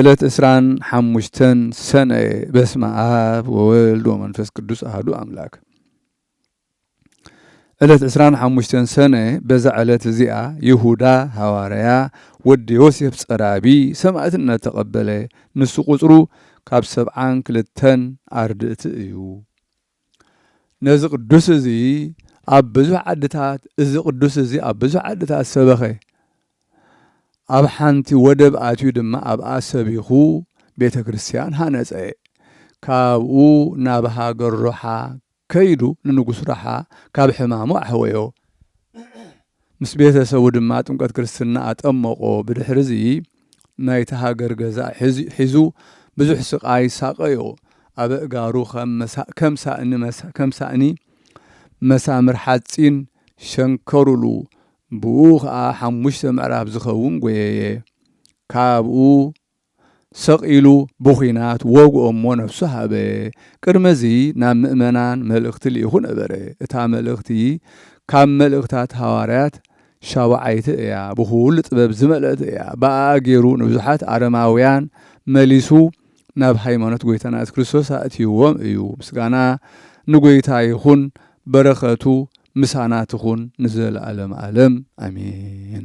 ዕለት ዕስራን ሓሙሽተን ሰነ በስመ ኣብ ወወልድ ወመንፈስ ቅዱስ ኣህዱ ኣምላክ ዕለት ዕስራን ሓሙሽተን ሰነ በዛ ዕለት እዚኣ ይሁዳ ሃዋርያ ወዲ ዮሴፍ ጸራቢ ሰማእትነት ተቐበለ። ንሱ ቁጽሩ ካብ ሰብዓን ክልተን ኣርድእቲ እዩ። ነዚ ቅዱስ እዚ ኣብ ብዙሕ ዓድታት እዚ ቅዱስ እዚ ኣብ ብዙሕ ዓድታት ሰበኸ። ኣብ ሓንቲ ወደብ ኣትዩ ድማ ኣብኣ ሰቢኹ ቤተ ክርስቲያን ሃነጸ። ካብኡ ናብ ሃገር ሮሓ ከይዱ ንንጉስ ሮሓ ካብ ሕማሙ ኣሕወዮ። ምስ ቤተ ሰቡ ድማ ጥምቀት ክርስትና ኣጠመቖ። ብድሕርዚ ናይቲ ሃገር ገዛ ሒዙ ብዙሕ ስቓይ ሳቐዮ። ኣብ ኣእጋሩ ከም ሳእኒ መሳምር ሓጺን ሸንከሩሉ፣ ብኡ ኸኣ ሓሙሽተ ምዕራፍ ዝኸውን ጐየየ። ካብኡ ሰቕ ኢሉ ብኹናት ወግኦ'ሞ ነፍሱ ሃበ። ቅድሚ'ዚ ናብ ምእመናን መልእኽቲ ልኢኹ ነበረ። እታ መልእኽቲ ካብ መልእኽታት ሃዋርያት ሻቡዓይቲ እያ፣ ብኹሉ ጥበብ ዝመልአት እያ። ብኣኣ ገይሩ ንብዙሓት ኣረማውያን መሊሱ ናብ ሃይማኖት ጎይታና የሱስ ክርስቶስ ኣእትይዎም እዩ። ምስጋና ንጎይታ ይኹን፣ በረኸቱ ምሳና ትኹን ንዘለኣለመ ኣለም ኣሜን።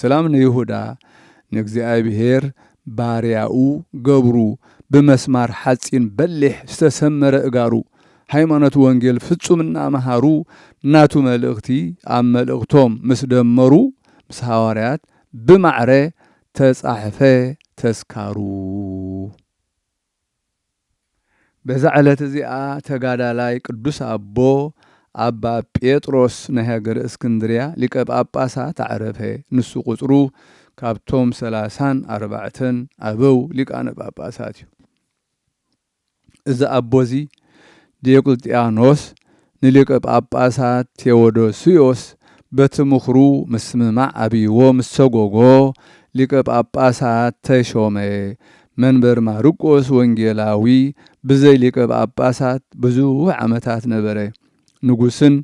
ሰላም ንይሁዳ ንእግዚኣብሄር ባርያኡ ገብሩ ብመስማር ሓጺን በሊሕ ዝተሰመረ እጋሩ ሃይማኖት ወንጌል ፍጹም እናመሃሩ ናቱ መልእኽቲ ኣብ መልእኽቶም ምስ ደመሩ ምስ ሃዋርያት ብማዕረ ተጻሕፈ ተስካሩ። በዛ ዕለት እዚኣ ተጋዳላይ ቅዱስ ኣቦ ኣባ ጴጥሮስ ናይ ሃገረ እስክንድርያ ሊቀ ጳጳሳት ኣዕረፈ። ንሱ ቁጽሩ ካብቶም ሰላሳን ኣርባዕተን ኣበው ሊቃነ ጳጳሳት እዩ። እዚ ኣቦ እዚ ዲዮቅልጥያኖስ ንሊቀ ጳጳሳት ቴዎዶስዮስ በቲ ምኽሩ ምስምማዕ ኣብይዎ ምስ ሰጎጎ፣ ሊቀ ጳጳሳት ተሾመ፣ መንበር ማርቆስ ወንጌላዊ ብዘይ ሊቀ ጳጳሳት ብዙሕ ዓመታት ነበረ። ንጉስን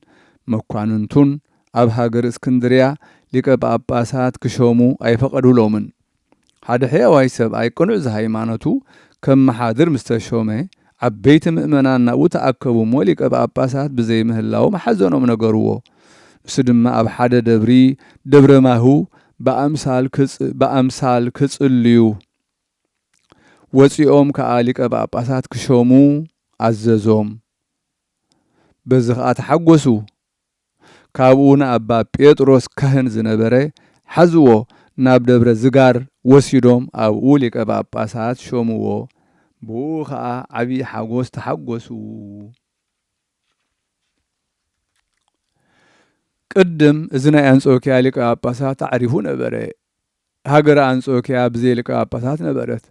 መኳንንቱን ኣብ ሃገረ እስክንድርያ ሊቀ ጳጳሳት ክሾሙ ኣይፈቐዱሎምን። ሓደ ሕያዋይ ሰብኣይ ቅኑዕ ዘሃይማኖቱ ከመሓድር ምስ ተሾመ፣ ዓበይቲ ምእመናን ናብኡ ተኣከቡ እሞ ሊቀ ጳጳሳት ብዘይምህላዎም ሓዘኖም ነገርዎ። ንሱ ድማ ኣብ ሓደ ደብሪ፣ ደብረ ማሁ፣ ብኣምሳል ክጽልዩ ወጺኦም ከኣ ሊቀ ጳጳሳት ክሾሙ ኣዘዞም። በዚ ከኣ ተሓጐሱ። ካብኡ ንኣባ ጴጥሮስ ካህን ዝነበረ ሓዝዎ ናብ ደብረ ዝጋር ወሲዶም ኣብኡ ሊቀ ጳጳሳት ሾምዎ ብእኡ ከኣ ዓቢይ ሓጎስ ተሓጎሱ። ቅድም እዚ ናይ ኣንጾክያ ሊቀ ጳጳሳት ኣዕሪፉ ነበረ። ሃገረ ኣንጾክያ ብዘይ ሊቀ ጳጳሳት ነበረት።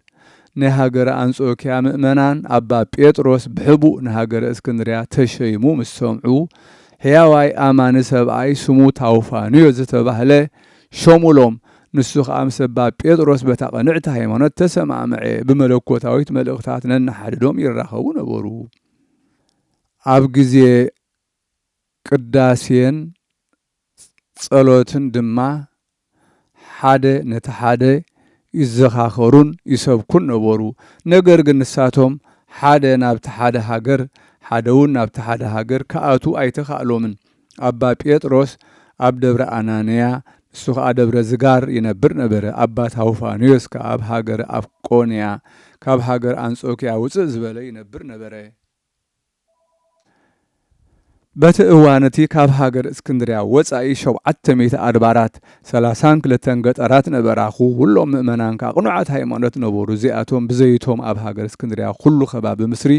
ናይ ሃገረ ኣንጾክያ ምእመናን ኣባ ጴጥሮስ ብሕቡእ ንሃገረ እስክንድርያ ተሸይሙ ምስ ሰምዑ ሕያዋይ ኣማኒ ሰብኣይ ስሙ ታውፋንዮ ዝተባህለ ሾሙሎም ንሱ ከኣ ምስ ኣባ ጴጥሮስ በታ ቅንዕቲ ሃይማኖት ተሰማምዐ ብመለኮታዊት መልእኽታት ነንሓድዶም ይራኸቡ ነበሩ ኣብ ግዜ ቅዳሴን ጸሎትን ድማ ሓደ ነቲ ሓደ ይዘኻኸሩን ይሰብኩን ነበሩ። ነገር ግን ንሳቶም ሓደ ናብቲ ሓደ ሃገር ሓደውን ናብቲ ሓደ ሃገር ክኣትዉ ኣይተኻእሎምን። ኣባ ጴጥሮስ ኣብ ደብረ ኣናንያ ንሱ ኸኣ ደብረ ዝጋር ይነብር ነበረ። ኣባ ታውፋንዮስ ከኣ ኣብ ሃገረ ኣፍቆንያ ካብ ሃገር ኣንጾክያ ውጽእ ዝበለ ይነብር ነበረ። በቲ እዋን እቲ ካብ ሃገር እስክንድርያ ወጻኢ ሾብዓተ ሚእቲ ኣድባራት፣ ሰላሳን ክልተን ገጠራት ነበራ፣ ኹሎም ምእመናን ከኣ ቅኑዓት ሃይማኖት ነበሩ፣ እዚኣቶም ብዘይቶም ኣብ ሃገር እስክንድርያ ኹሉ ከባቢ ምስሪ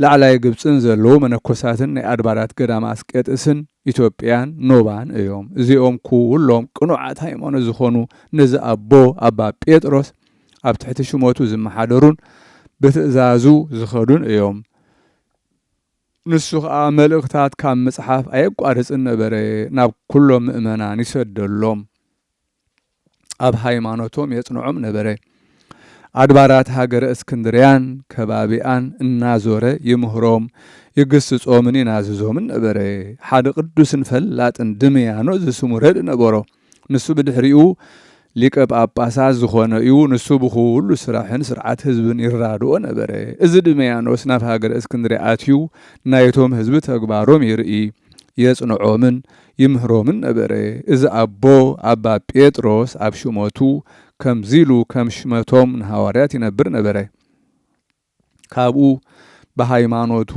ላዕላይ ግብጽን ዘለዉ መነኮሳትን ናይ ኣድባራት ገዳመ ኣስቄጥስን ኢትዮጵያን ኖባን እዮም፣ እዚኦም ኹሎም ቅኑዓት ሃይማኖት ዝኾኑ ነዚ ኣቦ ኣባ ጴጥሮስ ኣብ ትሕቲ ሽመቱ ዝመሓደሩን ብትእዛዙ ዝኸዱን እዮም። ንሱ ኸኣ መልእኽታት ካብ ምጽሓፍ ኣየቋርጽን ነበረ፣ ናብ ኵሎም ምእመናን ይሰደሎም፣ ኣብ ሃይማኖቶም የጽንዖም ነበረ፣ ኣድባራት ሃገረ እስክንድርያን ከባቢኣን እናዞረ ይምህሮም፣ ይግስጾምን ይናዝዞምን ነበረ። ሓደ ቅዱስን ፈላጥን ድምያኖ ዝስሙ ረድእ ነበሮ። ንሱ ብድሕሪኡ ሊቀ ጳጳሳት ዝኾነ እዩ፣ ንሱ ብኹሉ ስራሕን ስርዓት ህዝብን ይራድኦ ነበረ። እዚ ድመያኖስ ናብ ሃገረ እስክንድርያ ኣትዩ ናይቶም ህዝቢ ተግባሮም ይርኢ፣ የጽንዖምን ይምህሮምን ነበረ። እዚ ኣቦ ኣባ ጴጥሮስ ኣብ ሹመቱ ከምዚ ኢሉ ከም ሽመቶም ንሃዋርያት ይነብር ነበረ። ካብኡ ብሃይማኖቱ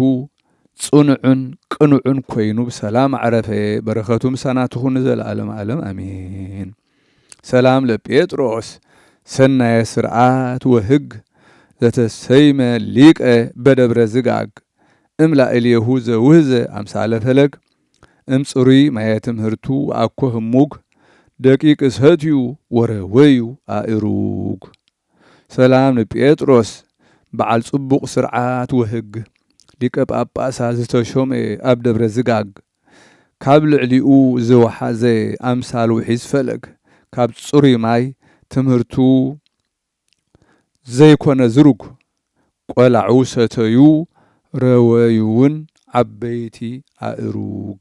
ጽኑዕን ቅኑዕን ኮይኑ ብሰላም ኣዕረፈ። በረከቱ ምሳና ትኹን ንዘለዓለም ዓለም ኣሜን። ሰላም ለጴጥሮስ ሰናየ ስርዓት ወህግ ዘተሰይመ ሊቀ በደብረ ዝጋግ እምላእሌሁ ዘውህዘ ኣምሳለ ፈለግ እምጽሩይ ማየ ትምህርቱ ወኣኮ ህሙግ ደቂቅ ሰትዩ ወረወዩ ኣእሩግ ሰላም ንጴጥሮስ በዓል ጽቡቕ ስርዓት ወህግ ሊቀ ጳጳሳት ዝተሾመ ኣብ ደብረ ዝጋግ ካብ ልዕሊኡ ዝወሓዘ ኣምሳል ውሒዝ ፈለግ ካብ ጽሩይ ማይ ትምህርቱ ዘይኮነ ዝሩግ ቆላዑ ሰተዩ ረወዩውን ዓበይቲ ኣእሩግ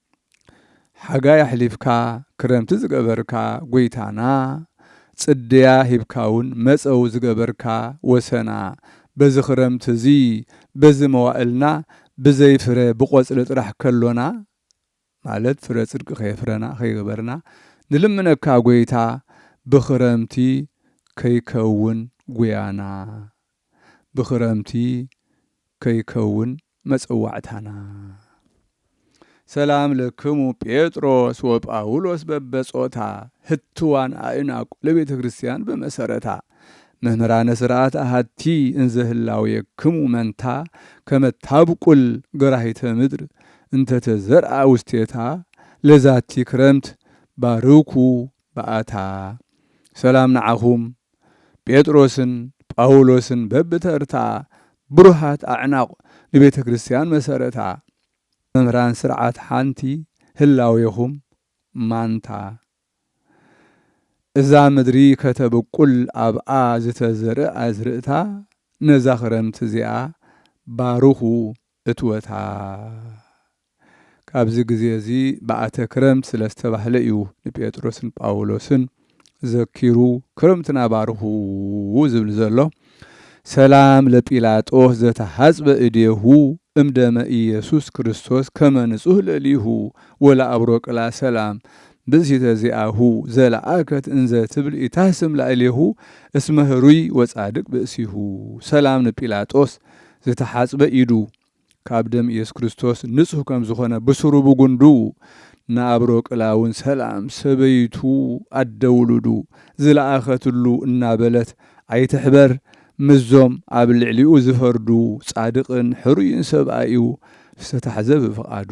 ሓጋይ ኣሕሊፍካ ክረምቲ ዝገበርካ ጎይታና ጽድያ ሂብካውን መጸው ዝገበርካ ወሰና በዚ ክረምቲ እዚ በዚ መዋእልና ብዘይ ፍረ ብቆጽሊ ጥራሕ ከሎና ማለት ፍረ ጽድቂ ከየፍረና ከይገበርና ንልምነካ ጎይታ ብክረምቲ ከይከውን ጉያና ብክረምቲ ከይከውን መጸዋዕታና። ሰላም ለክሙ ጴጥሮስ ወጳውሎስ በበጾታ ህትዋን ኣእናቁ ለቤተ ክርስቲያን በመሰረታ መምህራነ ስርዓት ኣሃቲ እንዘ ህላዌክሙ መንታ ከመ ታብቁል ገራሂተ ምድር እንተ ተዘርኣ ውስቴታ ለዛቲ ክረምት ባርኩ ባኣታ ሰላም ንዓኹም ጴጥሮስን ጳውሎስን በብተርታ ብሩሃት ኣዕናቝ ንቤተ ክርስትያን መሰረታ መምህራን ስርዓት ሓንቲ ህላዌኹም ማንታ እዛ ምድሪ ከተብቍል ኣብኣ ዝተዘርእ ኣዝርእታ ነዛ ክረምቲ እዚኣ ባርኹ እትወታ ካብዚ ግዜ እዚ በኣተ ክረምት ስለ ዝተባህለ እዩ ንጴጥሮስን ጳውሎስን ዘኪሩ ክረምትና ባርኹ ዝብል ዘሎ። ሰላም ለጲላጦስ ዘተሃጽበ እዴሁ እም ደመ ኢየሱስ ክርስቶስ ከመ ንጹህ ለሊሁ ወለኣብሮቅላ ሰላም ብእሲተ ዚኣሁ ዘለኣከት እንዘ ትብል ኢታህስም ላእሌሁ እስመ ህሩይ ወጻድቅ ብእሲሁ ሰላም ንጲላጦስ ዝተሓጽበ ኢዱ ካብ ደም ኢየሱስ ክርስቶስ ንጹህ ከም ዝኾነ ብሱሩ ብጉንዱ ንኣብሮ ቅላውን ሰላም ሰበይቱ ኣደ ውሉዱ ዝለኣኸትሉ እናበለት ኣይትሕበር ምስዞም ኣብ ልዕሊኡ ዝፈርዱ ጻድቕን ሕሩይን ሰብኣዩ ዝተታሕዘ ብፍቓዱ